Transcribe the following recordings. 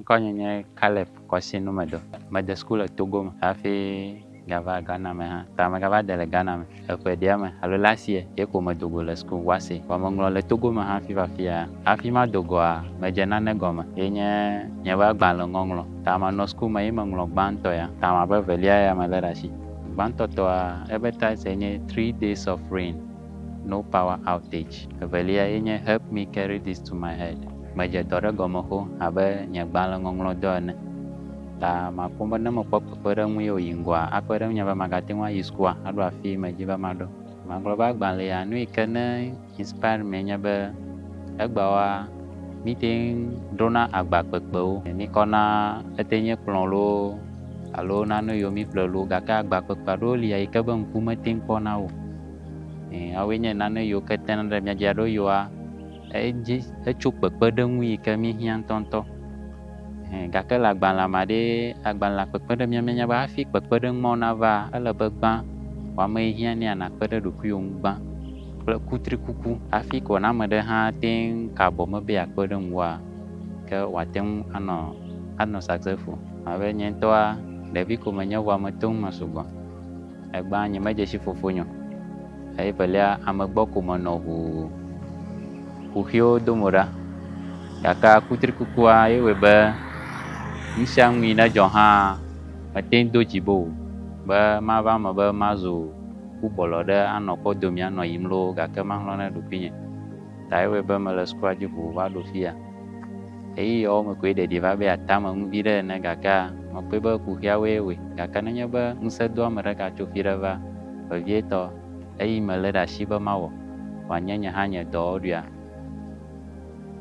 Ŋkɔnye nye Caleb Kwasi Numedor. Mede school le Togo me hafi gava Ghana me hã. Ta megava de le Ghana me eƒe ɖea me alo last year ye ko medo go le school Wassey. Vɔ meŋlɔ le Togo me hafi va afia. Hafi mado goa, medze nane gɔme ye nye nye be agbalẽ ŋɔŋlɔ. Ta manɔ school me ye meŋlɔ gbãtɔ ya. Ta mabe evelia ya mele ɖe asi. Gbãtɔ tɔa ebe title nye Three Days of Rain, No Power Outage. Evelia ye nye Help Me Carry This to My Head. Medze dɔ ɖe gɔme xoxo abe nye gbalẽŋɔŋlɔ dɔ ene. Ta makpɔm be ne mekpɔ kpekpeɖeŋu ye wòyi ŋgɔa, akpe ɖe ŋunye be magate ŋu ayi sukua aɖo afii medi be maɖo. Magblɔ be agbalẽ ya nu yi ke ne inspire mi enye be, egbeawoa, míte ŋu ɖona agba kpekpewo. Míkɔna ete nye kplɔ̃ loo alo nane yiwo míeƒle loo, gake agba kpekpe aɖewo li eyi ke be ŋku mete ŋu kpɔna wo o. Ẽ, woawoe nye nane yiwo ke tena ɖe mía dzi aɖo yɔa. edzi etso kpekpeɖeŋu yi ke míehiã ŋutɔŋutɔ. Ẽ, gake le agbalẽa mea ɖee, agbalẽa kpekpe ɖe mía míenya be hafi kpekpeɖeŋu mawo navaa, ele be gbã, wò ame yi hiã nɛ nàkpe ɖe ɖokuiwò ŋu gbã kple kutrikuku. Hafi ko ne ame ɖe hã ate ŋu ka abɔ me be yeakpe ɖe ŋuwòa, ke wòate ŋu anɔ, anɔ successful. Abe nye ŋutɔa, ɖevi ko menye vɔa meto ŋu me sugbɔ. Egbea nyemedze si fofonye o, eye evelia ame gbɔ ko menɔ ʋu kuxiwo dom o ɖa. Gake akutrikukua ye wɔe be nusianu yi nedzɔ hã mete ŋu do dzi be o be mava eme be mazu kukpɔlɔ ɖe anɔ kɔ domea nɔ yiyim loo gake mahlɔ̃ na ɖokuinye. Ta ye wɔe be mele sukua dzi ʋuu va ɖo fiya. Ɣeyiɣiawo me koe ɖeɖi va be atame ŋu viɖe ene gakea, mekpɔe be kuxiawoe wɔe. Gake nenye be ŋusẽ doa ame ɖeka tso fi ɖe va, vevietɔ, eyi melé ɖe asi be mawɔ, wòanye nye hã nye dɔ ɖuia?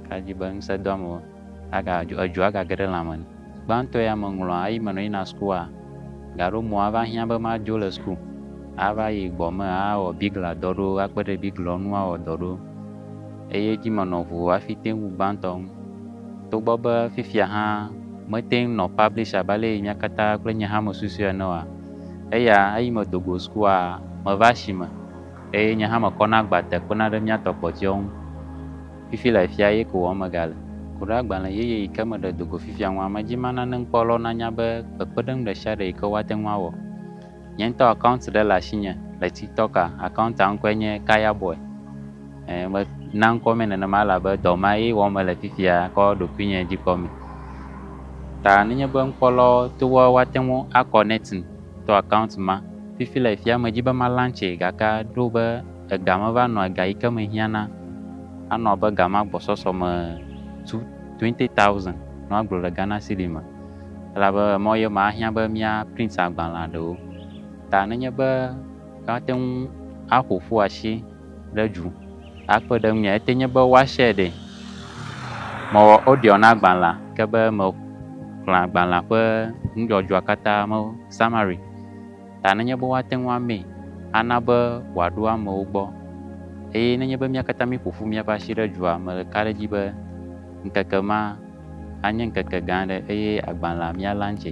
Ka dzi be ŋusẽ doa ame aga, edzo agage ɖe lãme nu. Gbãtɔ ya meŋlɔa eyi menɔ yina sukua, gaɖo mɔ ava hiã be madzo le suku, ava yi gbɔ me awɔ bigla dɔ ɖo, akpe ɖe biglawo ŋu awɔ dɔ ɖo. eye edzi menɔ ŋu hafi te ŋu gbãtɔ ŋu. Togbɔ be fifia hã mete ŋu nɔ publisher abe ale yi mía katã kple nye hã mesusui ene oa, eya eyi medo go sukua, meva asime eye nye hã mekɔna agba te kpena ɖe mía tɔ kpɔtɔewo ŋu. Fifi le afia eye ko wɔm megale. Ku ɖe agbalẽ yeye yi ke meɖe do go fifia ŋua, medi be nane ŋkpɔlawo nanya be kpekpeɖeŋu ɖesiaɖe yi ke woate ŋu awɔ Nye ŋutɔ account ɖe le asinye le tiktok a, account a ŋkɔe nye Kaya boy. E me na ŋkɔ me nenema elabe dɔ ma ye wɔm mele fifia kɔ ɖokuinye dzi kpɔ me. Ta nenye be ŋkɔ lɔwo to woa woate ŋu a connecting to account ma. Fifi le fifia me dzi be ma launchee gake ɖo be ega me va nɔ ega yike me hiã na anɔ abe ga ma gbɔsɔsɔ me two twenty thousand nɔ agblɔ le Ghana cedi me. Elabe emɔ ye ma ahiã be mía print agbalẽa ɖewo ta nenye be míate ŋu aƒo ƒu asi ɖe dzu akpe ɖe ŋuia, ete nye be woashare ɖe. Mewɔ audio na agbalẽa ke be mexlẽ agbalẽa ƒe nudzɔdzɔa katã me summary ta nenye be woate ŋu amee ana be wòaɖo amewo gbɔ. Eye nenye be mía katã míeƒo ƒu míaƒe asi ɖe dzua, mele ka ɖe edzi be ŋkeke ma, Anye ŋkeke gã aɖe eye agbalẽa míalã ntsɛ.